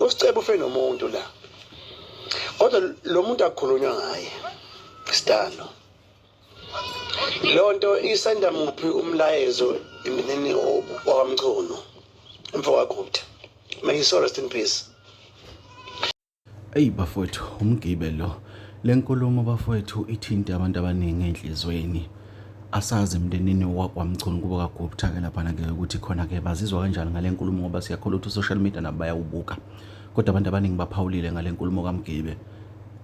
usicebo ufe nomuntu la kodwa lo muntu akukhulunywa ngaye sidalo lonto isenda muphi umlayezo emineni wakamchunu umfowakho may you so rest in peace Eyi bafowethu umgibe lo. Le nkulumo bafowethu ithinte abantu abaningi enhlizweni. Asazi emndenini wakwaMchunu kubo kaGupta ke laphana ke ukuthi khona ke bazizwa kanjani ngale nkulumo ngoba siyakholwa ukuthi social media nabo bayawubuka. Kodwa abantu abaningi baphawulile ngale nkulumo kaMgibe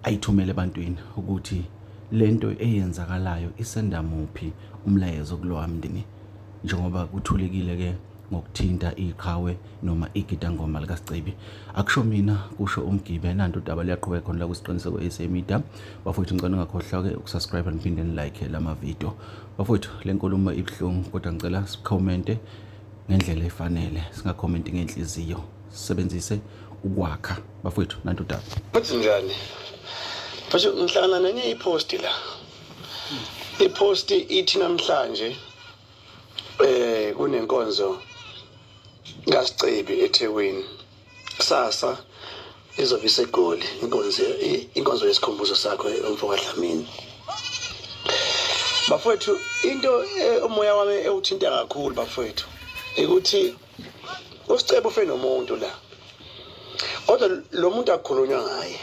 ayithumele ebantwini ukuthi lento eyenzakalayo isenda muphi umlayezo kulowa mndeni njengoba kuthulekile ke ngokuthinta iqhawe noma igidangoma likaSicebi. Akusho mina, kusho uMgibe. Nanto udaba luyaqhubeka khona la kusiqiniseko SA Media. Bafowethu ngicela ungakhohlwa-ke ukusubscribe niphinde nilike la mavidiyo. Bafowethu le nkulumo ibuhlungu kodwa ngicela sikhomente ngendlela efanele, singakhomenti ngenhliziyo. Sisebenzise ukwakha. Bafowethu nanto udaba. Futhi njani? Futhi ngihlangana nenye iposti la. Iposti ithi namhlanje eh kunenkonzo kaSicebi eThekwini kusasa izobe isegoli inkonzo inkonzo yesikhumbuzo sakho umfo kaDlamini bafowethu into eh, umoya wami ewuthinta kakhulu bafowethu ukuthi uSicebi ufe nomuntu la kodwa lo muntu akukhulunywa ngaye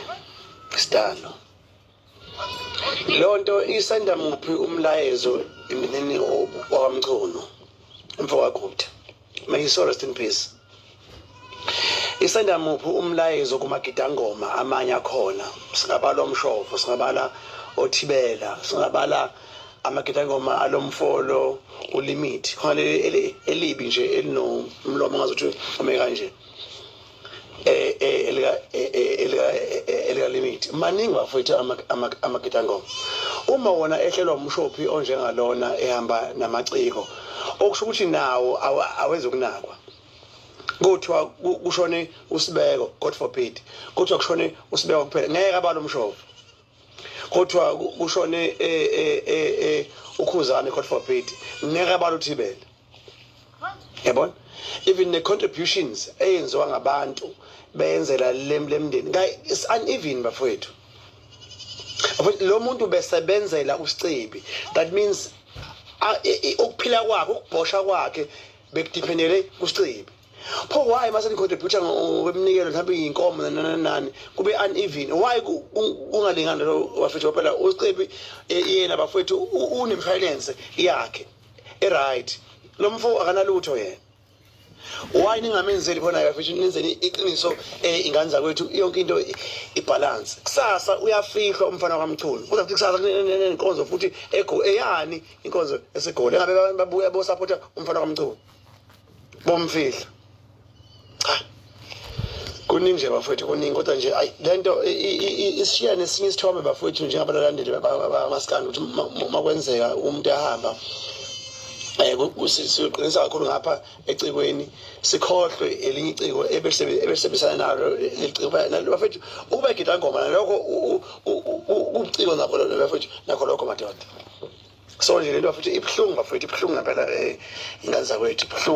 sidalo Lonto isenda muphi umlayezo emnini wakwamchunu mfowakhuthi may his soul rest in peace isenda muphi umlayezo kumagidangoma amanye akhona singabala omshofo singabala othibela singabala amagidangoma alomfolo ulimit khona elibi nje elinomlomo ngazuthi ume kanje eh, eh, elikalimiti eh, maningi bafowethu amakitangoma uma wona ehlelwa umshophi onjengalona ehamba namaciko okusho ukuthi nawo awezokunakwa kuthiwa kushone usibeko god forbid kuthiwa kushone usibeko kuphela ngeke abalo mshophi kodwa kushone e, e, e, ukhuzane god forbid ngeke abantu uthibele yabona even ne-contributions eyenziwa ngabantu beyenzela lemndeni is uneven bafowethu lo muntu besebenzela usicebi that means ukuphila kwakhe ukubhosha kwakhe bekudiphendele kusicebi pho why mase nicontributor ngokweminikelo mhlawumbe iy'nkomo nananani kube uneven why kungalingani lo bafethu phela usicebi eh, yena bafethu unemshwalense yakhe e-right lo mfo akanalutho yena why ningamenzeli khona bafethu nenzeni iqiniso eh, ingane zakwethu yonke into ibhalanse kusasa uyafihlwa umfana kwamchunu kuza kuthi kusasa nenkonzo futhi eyani inkonzo esegoli engabe babuya bosaphotha umfana kwamchunu bomfihlo cha kuningi nje bafowethu kuningi kodwa nje ayi le nto isishiya nesinye isithombe bafowethu njengabalandeli bamasikandi ukuthi uma kwenzeka umuntu ehamba um siqinisa kakhulu ngapha ecikweni sikhohlwe elinye iciko ebesebenzisana nalo bafethu ukuba igidangoma nalokho ubuciko nakho bafethu nakho lokho madoda so nje lento futhi ibuhlungu bafowethu ibuhlungu ngempela um ingane zakwethu ibuhlungu